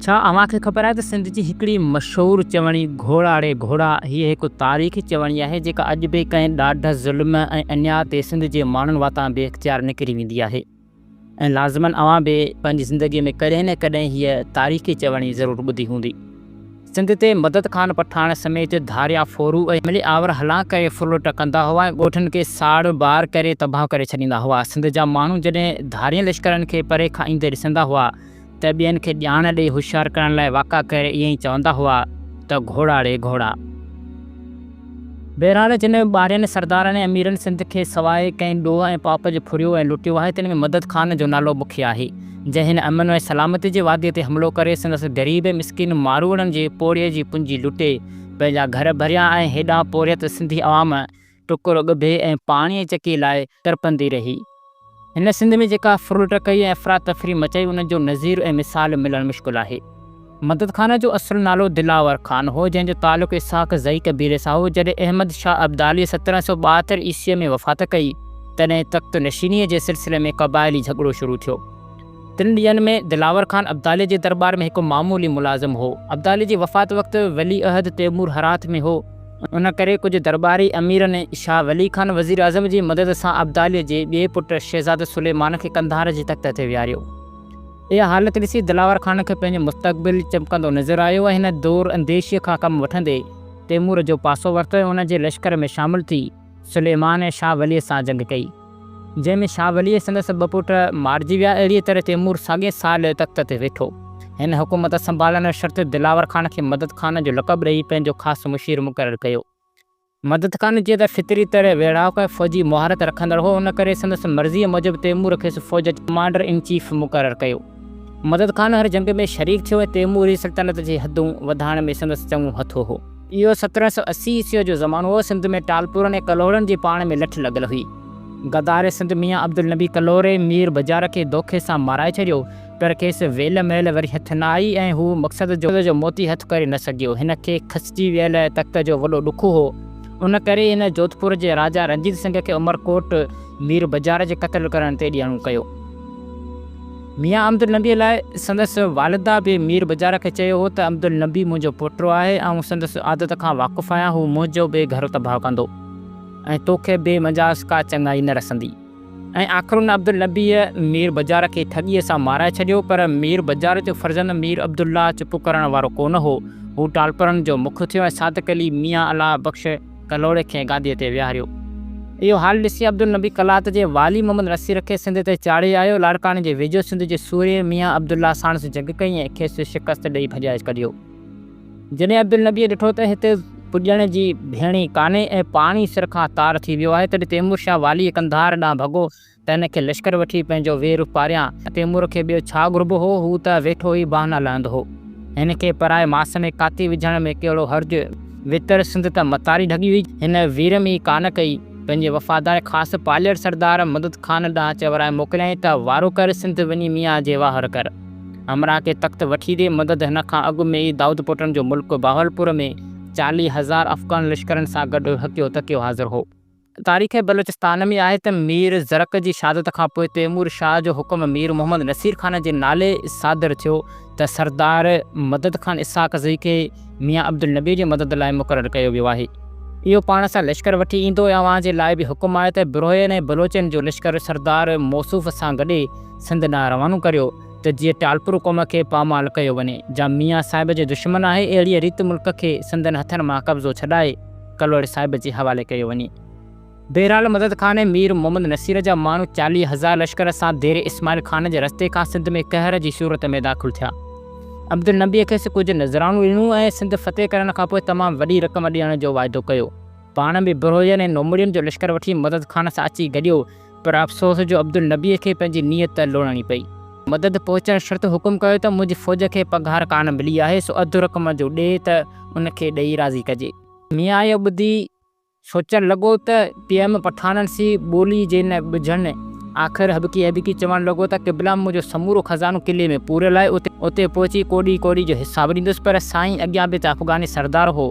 ڇا اوهان کي خبر آهي ته سنڌ جي هڪڙي مشهور چوڻي گهوڙاڙي گهوڙا هيء هڪ تاريخي چوڻي آهي جيڪا اڄ به ڪنهن ڏاڍ، ظلم ۽ اڃاء تي سنڌ جي ماڻهن واتان بي اختيار نڪري ويندي آهي ۽ لازمن اوهان به پنهنجي زندگي ۾ ڪڏهن نه ڪڏهن هيء تاريخي چوڻي ضرور ٻڌي هوندي. سنڌ تي مدد خان پٺاڻ سميت ڌاريا ڦورو ۽ ملي آور هلان ڪري ڦرلٽ ڪندا هئا ۽ ڳوٺن کي ساڙ ٻار ڪري تباهه ڪري ڇڏيندا هئا. سنڌ جا ماڻهو جڏهن ڌارين لشڪرن کي پري کان ايندي ڏسندا هئا ته ٻين کي ڄاڻ ڏئي هوشيار ڪرڻ لاء واڪا ڪير ائين ئي چوندا هئا ته گهوڙا ري گهوڙا. بهرحال جن ٻارين سردارن ۽ اميرن سنڌ کي سواء ڪنهن ڏوهه ۽ پاپ جي ڦريو ۽ لٽيو آهي تن ۾ مدد خان جو نالو مکيه آهي جنهن هن امن ۽ سلامتي جي واديء تي حملو ڪري سندس غريب ۽ مسڪين ماروئڙن جي پوڙهي جي پونجي لٽي پنهنجا گهر ڀريا ۽ هيڏانهن پورهيت سنڌي عوام ٽڪرو ڳڀي ۽ پاڻيء جي چڪيء لاء تڙپندي رهي. هن سنڌ ۾ جيڪا ڦرلٽ ڪئي ۽ افراتفري مچائي ان جو نظير ۽ مثال ملڻ مشڪل آهي. مدد خان جو اصل نالو دلاور خان هو جنهن جو تعلق اسحاق زئي قبيلي سان هو. جڏهن احمد شاهه ابداليء سترهن سؤ ٻاهتر عيسويء ۾ وفات ڪئي تڏهن تخت نشينيء جي سلسلي ۾ قبائلي جهڳڙو شروع ٿيو. تن ڏينهن ۾ دلاور خان ابداليء جي درٻار ۾ هڪ معمولي ملازم هو. ابداليء جي وفات وقت ولي عهد تيمور هرات ۾ هو. ان ڪري ڪجهه درٻاري اميرن شاهه ولي خان وزيراعظم جي مدد سان ابداليء جي ٻئي پٽ شهزاده سليمان کي قنڌار جي تخت تي ويهاريو. اها حالت ڏسي دلاور خان کي پنهنجو مستقبل چمڪندو نظر آيو ۽ هن دور انديشيء کان ڪم وٺندي تيمور جو پاسو ورتو ۽ ان جي لشڪر ۾ شامل ٿي سليمان ۽ شاهه وليء سان جنگ ڪئي، جنهن ۾ شاهه وليء ۽ سندس ٻه پٽ مارجي ويا، اهڙيء طرح تيمور ساڳئي سال تخت تي ويٺو. هن حڪومت سنڀالڻ شرط دلاور خان کي مدد خان جو لقب ڏئي پنهنجو خاص مشير مقرر ڪيو. مدد خان جيئن ته فطري طرح ويڙهاڪ ۽ فوجي مهارت رکندڙ هو، ان ڪري سندس مرضيء موجب تيمور کيس فوج جو ڪمانڊر ان چيف مقرر ڪيو. مدد خان هر جنگ ۾ شريڪ ٿيو ۽ تيمور جي سلطنت جي حدون وڌائڻ ۾ سندس چڱو هٿ هو. اهو سترهن سؤ اسي عيسويء جو زمانو هو، سنڌ ۾ ٽالپورن ۽ ڪلهوڙن جي پاڻ ۾ لٺ لڳل هئي. غدار سنڌ ميان عبدالنبي ڪلهوڙي مير بجار کي دوکي سان مارائي ڇڏيو، پر کيس ويل مهل وري هٿ نه آئي ۽ هو مقصد جو موتي هٿ ڪري نه سگهيو. هن کي کسجي ويل تخت جو وڏو ڏک هو، ان ڪري هن جوڌپور جي راجا رنجيت سنگهه کي عمرڪوٽ مير بجار جي قتل ڪرڻ تي ڏيڻو ڪيو. ميان عبدالنبيء لاء سندس والده به مير بجار کي چيو هو ته عبدالنبي منهنجو پوٽو آهي، آئون سندس عادت کان واقف آهيان، هو منهنجو به گهر تباهه ڪندو ۽ توکي بي مجاز ڪا چڱائي نه رسندي. ۽ آخر ان عبدالنبيء مير بجار کي ٺڳيء سان مارائي ڇڏيو، پر مير بجار جو فرزند مير عبدالله چپ ڪرڻ وارو ڪونه هو، هو ٽالپرن جو مک ٿيو ۽ صادق علي ميان الله بخش، ڪلهوڙي کي گاديء تي ويهاريو. اهو حال ڏسي عبدالنبي قلات جي والي محمد نصير کي سنڌ تي چاڙهي آيو. لاڙڪاڻي جي ويجهو سنڌ جي سورهيه ميان عبدالله ساڻس جنگ ڪئي ۽ کيس شڪست ڏيئي ڀڄائي ڪڍيو. جڏهن عبدالنبيء ڏٺو ته هتي پڄڻ جي ڀيڻي ڪانهي ۽ پاڻي سر کان تار ٿي ويو آهي، تڏهن تيمور شاهه والي قنڌار ڏانهن ڀڳو. تنهن کي لشڪر وٺي پنهنجو ويهه روپ پاريان تيمور کي ٻيو ڇا گهربو هو، هو ته ويٺو ئي بهانا لهندو هو. هن کي پرائي ماس ۾ ڪاتي وجهڻ ۾ ڪهڙو حرج؟ ويتر سنڌ ته متاري ڍڳي هئي. هن ويرم ئي ڪانه ڪئي. پنهنجي وفادار خاص پالير سردار مدد خان ڏانهن چورائي موڪليائين ته وارو ڪر سنڌ وڃي ميان جي واهر ڪر. همراهه کي تخت وٺي ڏي. مدد هن کان اڳ ۾ ئي دائود پوٽن جو ملڪ بهاولپور ۾ چاليهه هزار افغان لشڪرن سان گڏ هڪيو ٿڪيو حاضر هو. تاريخ بلوچستان ۾ آهي ته مير زرڪ جي شهادت کان پوء تيمور شاهه جو حڪم مير محمد نصير خان جي نالي صادر ٿيو ته سردار مدد خان اسحاق زئي کي ميان عبدالنبي جي مدد لاء مقرر ڪيو ويو آهي. اهو پاڻ سان لشڪر وٺي ايندو ۽ اوهان جي لاء به حڪم آهي ته بروهين ۽ بلوچن جو لشڪر سردار موصوف سان گڏي سنڌ ڏانهن روانو ڪريو ته جيئن ٽالپر قوم کي پامال ڪيو وڃي جا ميان صاحب جي دشمن آهي اهڙيء ريت ملڪ کي سندن هٿن مان قبضو ڇڏائي ڪلهوڙي صاحب جي حوالي ڪيو وڃي. بهرحال مدد خان مير محمد نصير جا ماڻهو چاليهه هزار لشڪر سان ديري اسماعيل خان جي رستي کان سنڌ ۾ قهر جي صورت ۾ داخل ٿيا. عبدالنبيء کيس ڪجهه نذرانو ڏنو ۽ سنڌ فتح ڪرڻ کان پوء تمام وڏي رقم ڏيڻ جو واعدو ڪيو. پاڻ به بروهين ۽ نومڙين جو لشڪر وٺي مدد خان سان اچي گڏيو. پر افسوس جو عبدالنبيء کي پنهنجي نيت لوڙڻي پئي. مدد پهچڻ شرط حڪم ڪيو ته منهنجي فوج کي پگهار ڪانه ملي آهي، سو اڌ رقم جو ڏي ته ان کي ڏيئي راضي ڪجي. ميان اهو ٻڌي سوچڻ لڳو ته پي ايم پٺاڻن سي ٻولي جي نه ٻجهن. آخر هٻڪي هٻڪي چوڻ لڳو ته قبلا منهنجو سمورو خزانو قلعي ۾ پوريل آهي، اتي پهچي ڪوڏي ڪوڏي جو حساب ڏيندس، پر سائين اڳيان به ته افغاني سردار هو،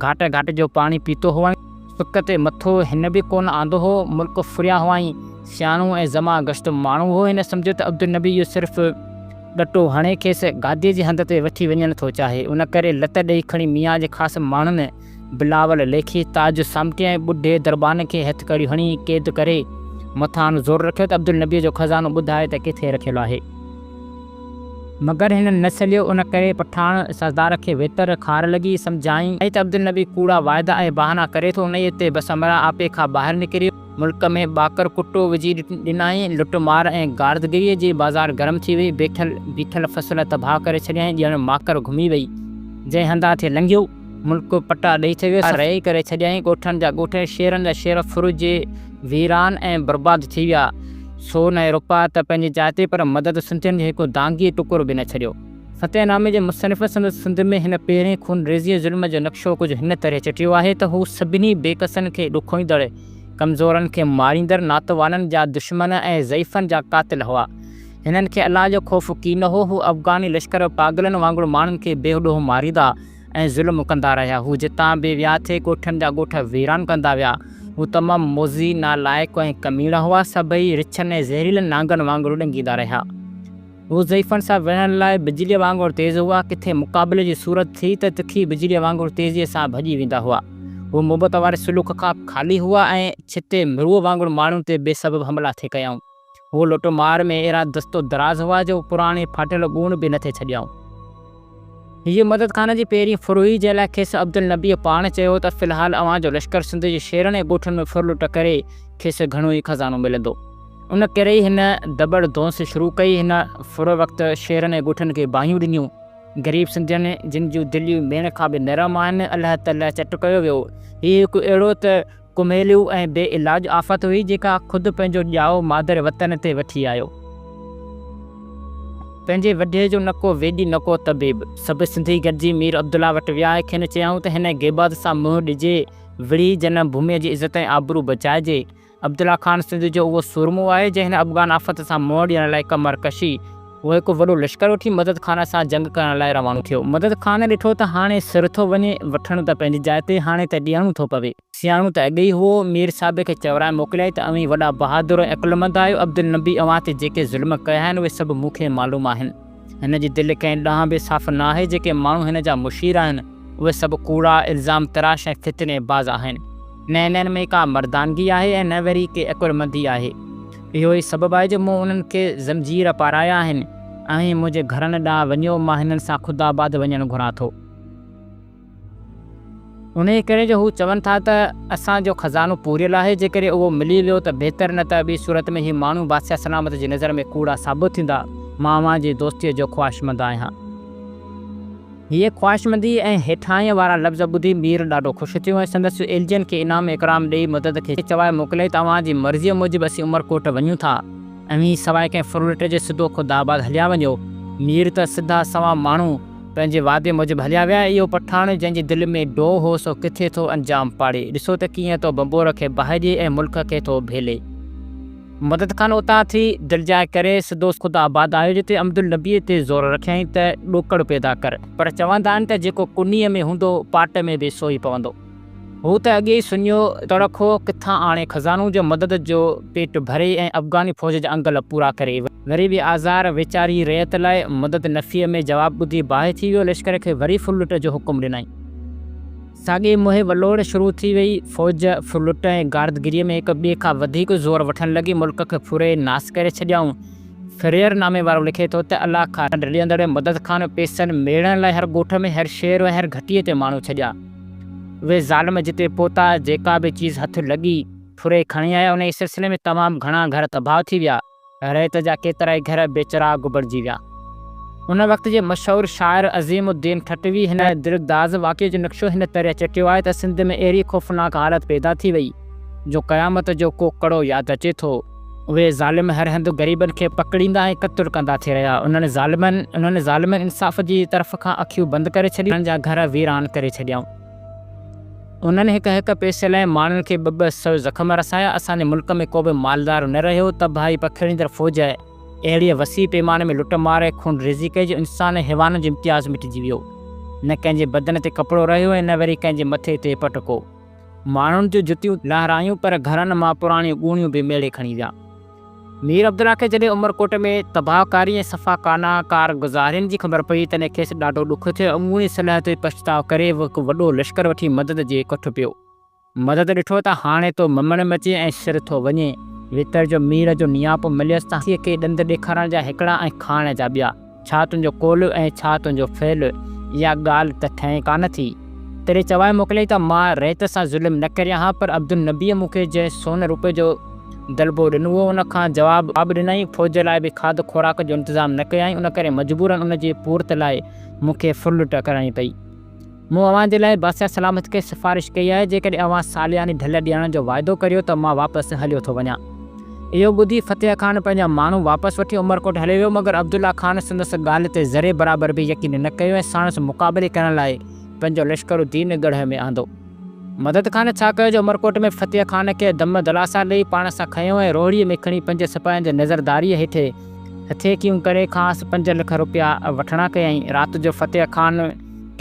گهاٽ گهاٽ جو پاڻي پيتو هئائين. سڪ تي مٿو هن به ڪونه آندو هو، ملڪ ڦريان هئائين، سياڻو ۽ زمان گشت ماڻهو هو، هن سمجهيو ته عبدالنبي اهو صرف ڏٽو هڻي کيس گاديء جي هنڌ تي وٺي وڃڻ ٿو چاهي، ان ڪري لت ڏيئي کڻي ميان جي خاص ماڻهن بلاول ليکي تاج سامٽي ۽ ٻڍي دربان کي هٿڪڙيون هڻي قيد ڪري مٿان زور رکيو ته عبدالنبيء جو خزانو ٻڌاء ته ڪٿي رکيل آهي. مگر هنن نه سليو، ان ڪري پٺاڻ سردار کي ويتر خار لڳي، سمجهايائين ته عبدالنبي ڪوڙا وعدا ۽ بهانا ڪري ٿو، انهيء تي بس امرا آپي کان ٻاهر نڪريو، ملڪ ۾ ٻاڪر ڪٽو وجهي ڏنائين، لٽ مار ۽ غارتگريء جي بازار گرم ٿي وئي، بيٺل بيٺل فصل تباهه ڪري ڇڏيائين، ڄڻ ماڪر گهمي وئي، جنهن هنڌان ٿي لنگهيو. ملڪ پٽا ڏئي ٿي ويو، رهي ڪري ڇڏيائين، ڳوٺن جا ڳوٺ ۽ شهرن جا شهر ڦرجي ويران ۽ برباد ٿي ويا، سون ۽ روپا ته پنهنجي جاء تي پر مدد سنڌين جو هڪ دانگي ٽڪر به نه ڇڏيو. فتح نامي جي مصنف سندس سنڌ ۾ هن پهرين خون ريزيء ظلم جو نقشو ڪجهه هن طرح چٽيو آهي ته هو سڀني بي ڪسن کي ڏکوئيندڙ، ڪمزورن کي ماريندڙ، ناتوانن جا دشمن ۽ ضعيفن جا قاتل هئا. هنن کي الله جو خوف ڪي نه هو. هو افغاني لشڪر پاڳلن وانگر ماڻهن کي بي ڏوهه ماريندا ۽ ظلم ڪندا رهيا. هو جتان به ويا ٿي ڳوٺن جا ڳوٺ ويران ڪندا ويا. هو تمام موذي، نالائق ۽ ڪميڻا هئا. سڀئي رڇن ۽ زهريلن نانگن وانگر ڏنگيندا رهيا. هو ضعيفن سان وڙهڻ لاء بجليء وانگر تيز هئا. ڪٿي مقابلي جي صورت ٿي ته تکي بجليء وانگر تيزيء سان ڀڄي ويندا هئا. هو محبت واري سلوڪ کان خالي هئا ۽ ڇتي مروء وانگر ماڻهن تي بي سبب حملا ٿي ڪيائون. هو لٽ مار ۾ اهڙا دست و دراز هئا جو پراڻي ڦاٽيل ڳوڻ به نه ٿي ڇڏيائون. هيء مدد خان جي پهرين ڦرهي جنهن لاء کيس عبدالنبيء پاڻ چيو ته في الحال اوهان جو لشڪر سنڌ جي شهرن ۽ ڳوٺن ۾ ڦر لٽ ڪري کيس گهڻو ئي خزانو ملندو. ان ڪري ئي هن دٻڙ ڌونس شروع ڪئي. هن ڦر وقت شهرن ۽ ڳوٺن کي باهيون ڏنيون. غريب سنڌين جن جون دليون ميڻ کان به نرم آهن، الله تعاليٰ چٽ ڪيو ويو. هيء هڪ اهڙو ته. ڪميليو ۽ بي علاج آفت هئي جيڪا خود پنهنجو ڄائو مادر وطن تي وٺي آيو. پنهنجي وڍي جو نه ڪو ويڄ نه ڪو طبيب. سڀ سنڌي گڏجي مير عبدالله وٽ ويا ۽ کين چيائون ته هن غيباد سان منهن ڏجي وڙهي جنم ڀوميء جي عزت ۽ آبرو بچائجي. عبدالله خان سنڌ جو اهو سورمو آهي جنهن افغان آفت سان منهن ڏيڻ لاء ڪمر ڪشي، هو هڪ وڏو لشڪر وٺي مدد خان سان جنگ ڪرڻ لاء روانو ٿيو. مدد خان ڏٺو ته هاڻي سر ٿو وڃي، وٺڻ ته پنهنجي جاء تي، هاڻي ته ڏيڻو ٿو پوي. سياڻو ته اڳ ئي هئو، مير صاحب کي چورائي موڪليائين ته اوهين وڏا بهادر ۽ عقلمند آهيو، عبدالنبي اوهان تي جيڪي ظلم ڪيا آهن، اهي سڀ مون کي معلوم آهن. هن جي دل ڪنهن ڏانهن به صاف نه آهي، جيڪي ماڻهو هن جا مشير آهن، اهي سڀ ڪوڙا، الزام تراش ۽ فتني باز آهن. نه انهن ۾ ڪا مردانگي آهي ۽ نه وري ڪي عقلمندي آهي. اهو ئي سبب آهي جو مون انهن کي زنجير پارايا آهن. اوهين منهنجي گهرن ڏانهن وڃو، مان هنن سان خودآباد وڃڻ گهران ٿو. انهيء ڪري جو هو چون ٿا ته اسان جو خزانو پوريل آهي، جيڪڏهن اهو ملي ويو ته بهتر نه ته ٻي صورت ۾ هي ماڻهو بادشاهه سلامت جي نظر ۾ ڪوڙا ثابت ٿيندا. مان اوهان جي دوستيء جو خواهشمند آهيان. هيء خواهشمندي ۽ هيٺاهينء وارا لفظ ٻڌي مير ڏاڍو خوش ٿيو ۽ سندس ايلجين کي انعام اڪرام ڏيئي مدد کي چوائي موڪليائين ته اوهان جي مرضيء موجب اسين عمرڪوٽ وڃون ٿا. اوهين سواء ڪنهن ڦرلٽ جي سڌو خود آباد هليا وڃو. مير ته سڌا سنئون ماڻهو پنهنجي وعدي موجب هليا ويا ۽ اهو پٺاڻ جنهن جي دل ۾ ڊوهه هو سو ڪٿي ٿو انجام پاڙي. ڏسو ته ڪيئن ٿو ڀنڀور کي باهه ڏئي ۽ ملڪ کي ٿو ڀيلي. مدد خان اتان ٿي دلجاء ڪري سڌو خدا آباد آيو جتي عمدالنبيء تي زور رکيائين ته ڏوڪڙ پيدا ڪر. پر چوندا آهن ته جيڪو ڪنيء ۾ هوندو پاٽ ۾ به سو ئي پوندو. هو ته اڳي ئي سڃو تڙڪ هو، ڪٿان آڻي خزانو جو مدد جو پيٽ ڀري ۽ افغاني فوج جا انگل پورا ڪري. وري به آزار ويچاري رعيت لاء مدد نفيء ۾ جواب ٻڌي باهه ٿي ويو، لشڪر کي وري ڦرلٽ جو حڪم ڏنائين. ساڳي موهي ولوڙ شروع ٿي ويئي. فوج ڦرلٽ ۽ غارتگيريء ۾ هڪ ٻئي کان وڌيڪ زور وٺڻ لڳي. ملڪ کي ڦري ناس ڪري ڇڏيائون. فريئر نامي وارو لکي ٿو ته الله کان رڙيندڙ مدد خان پيسن ميڙڻ لاء هر ڳوٺ ۾ هر شهر ۽ هر گهٽيء تي ماڻهو ڇڏيا. اهي ظالم جتي پهتا، جيڪا به چيز هٿ لڳي، ڦري کڻي آيا. انهيء سلسلي ۾ تمام گهڻا گهر تباهه ٿي ويا. ريت جا ڪيترائي گهر بي چراغ بڻجي ويا. ان وقت جي مشهور شاعر عظيم الدين ٺٽوي هن دلگداز واقعي جو نقشو هن طرح چٽيو آهي ته سنڌ ۾ اهڙي خوفناڪ حالت پيدا ٿي وئي جو قيامت جو ڪو ڪڙو ياد اچي ٿو. اهي ظالم هر هنڌ غريبن کي پڪڙيندا ۽ قتل ڪندا ٿي رهيا. انهن ظالمن انهن ظالمن انصاف جي طرف کان اکيون بند ڪري ڇڏيون. انهن جا گهر ويران ڪري ڇڏيائون. انهن هڪ هڪ پئسي لاء ماڻهن کي ٻه ٻه سو زخم رسايا، اسان جي ملڪ ۾ ڪو به مالدار نه رهيو، تباهي پکيڙيندڙ فوج آئي، اهڙيء وسيع پيماني ۾ لٽ مار ۽ خون ريزي ڪئي جو انسان ۽ حيوانن جو امتياز مٽجي ويو. نه ڪنهن جي بدن تي ڪپڙو رهيو ۽ نه وري ڪنهن جي مٿي تي پٽڪو. ماڻهن جون جتيون لهرايون پر گهرن مان پراڻيون ڳوڻيون به ميڙي کڻي ويا. مير عبدالله کي جڏهن عمرڪوٽ ۾ تباهه ڪاري ۽ صفا ڪانا ڪار گذارين جي خبر پئي، تڏهن کيس ڏاڍو ڏک ٿيو ۽ اهي صلح تي پڇتاء ڪري هو هڪ وڏو لشڪر وٺي مدد جي ڪٺ پيو. مدد ڏٺو ته هاڻي تو ممڻ مچي ۽ سر ٿو وڃي. ويتر جو مير جو نياپو مليس ته هاٿيء کي ڏند ڏيکارڻ جا هڪڙا ۽ کائڻ جا ٻيا. ڇا تنهنجو قول ۽ ڇا تنهنجو فعل، اها ڳالهه ته ٿئي ڪانه ٿي. تيري چوائي موڪليائين ته مان ريت سان ظلم نه ڪريان ها، پر عبدالنبيء مون کي جنهن سون روپي جو دلبو ڏنو هو، ان کان جواب ڏنائين، فوج لاء به کاڌ خوراڪ جو انتظام نه ڪيائين، ان ڪري مجبوراً ان جي پورت لاء مون کي ڦرلٽ ڪرڻي پئي. مون اوهان جي لاء بادشاهه سلامت کي سفارش ڪئي آهي، جيڪڏهن اوهان سالياني ڍل ڏيڻ جو واعدو ڪريو ته مان واپس هليو ٿو وڃان. اهو ٻڌي فتح خان پنهنجا ماڻهو واپس وٺي عمرڪوٽ هليو ويو، مگر عبدالله خان سندس ڳالهه تي ذري برابر به يقين نه ڪيو ۽ ساڻس مقابلي ڪرڻ لاء پنهنجو لشڪر الدين ڳڙهه ۾ آندو. مدد خان ڇا ڪيو جو عمرڪوٽ ۾ فتح خان کي دم دلاسا ڏئي پاڻ سان کنيو ۽ روهڙيء ۾ کڻي پنج سپاهين جي نظرداريء هيٺ هٿيڪيون ڪري کانئس پنج لک روپيا وٺڻا ڪيائين. رات جو فتح خان.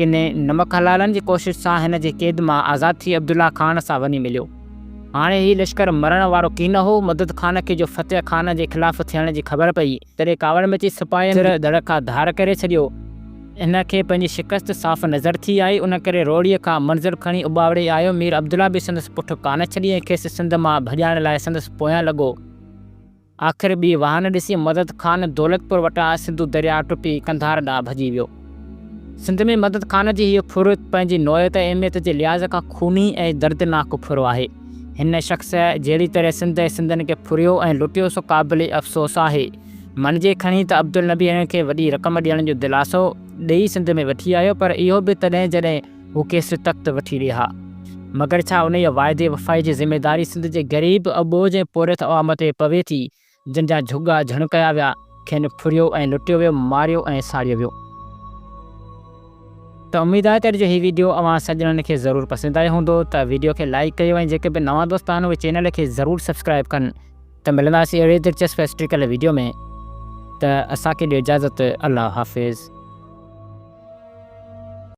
ڪنھن نمڪ حلالن جي ڪوشش سان ھن جي قيد مان آزاد ٿي عبدالله خان سان وڃي مليو. ھاڻي ھي لشڪر مرڻ وارو ڪين ھو. مدد خان کي جو فتح خان جي خلاف ٿيڻ جي خبر پئي، تڏھن ڪاوڙ مچي سپاھين سر ڌڙ کان ڌار ڪري ڇڏيو. ھن کي پنھنجي شڪست صاف نظر ٿي آئي، ان ڪري روھڙيء کان منزل کڻي اٻاوڙي آيو. مير عبدالله به سندس پٺ ڪانه ڇڏي ۽ کيس سنڌ مان ڀڄائڻ لاء سندس پويان لڳو. آخر ٻي واهه نه ڏسي مدد خان دولتپور وٽان سنڌو درياء ٽپي قنڌار ڏانهن ڀڄي ويو. سنڌ ۾ مدد خان جي هيء ڦر پنهنجي نوعيت ۽ اهميت جي لحاظ کان خوني ۽ دردناڪ ڦر آهي. هن شخص جهڙي طرح سنڌ ۽ سنڌين کي ڦريو ۽ لٽيو سو قابل افسوس آهي. مڃجي کڻي ته عبدالنبي هن کي وڏي رقم ڏيڻ جو دلاسو ڏئي سنڌ ۾ وٺي آيو پر اهو به تڏهن جڏهن هو ڪيسري تخت وٺي رهيا، مگر ڇا انهيء واعدي وفائي جي ذميداري سنڌ جي غريب، اٻوجهه ۽ پورهيت عوام تي پوي ٿي، جن جا جهڳا جهڻ ڪيا ويا، کين ڦريو ۽ لٽيو ويو، ماريو ۽ ساڙيو ويو. ته اميد آهي ته جو هي ويڊيو اوهان سڄڻن کي ضرور پسند آيو هوندو ته ويڊيو کي لائيڪ ڪيو ۽ جيڪي به نوان دوست آهن اهي چينل کي ضرور سبسڪرائيب ڪن ته ملنداسين اهڙي دلچسپ هسٽريڪل ويڊيو ۾ ته اسان کي ڏيو اجازت الله حافظ.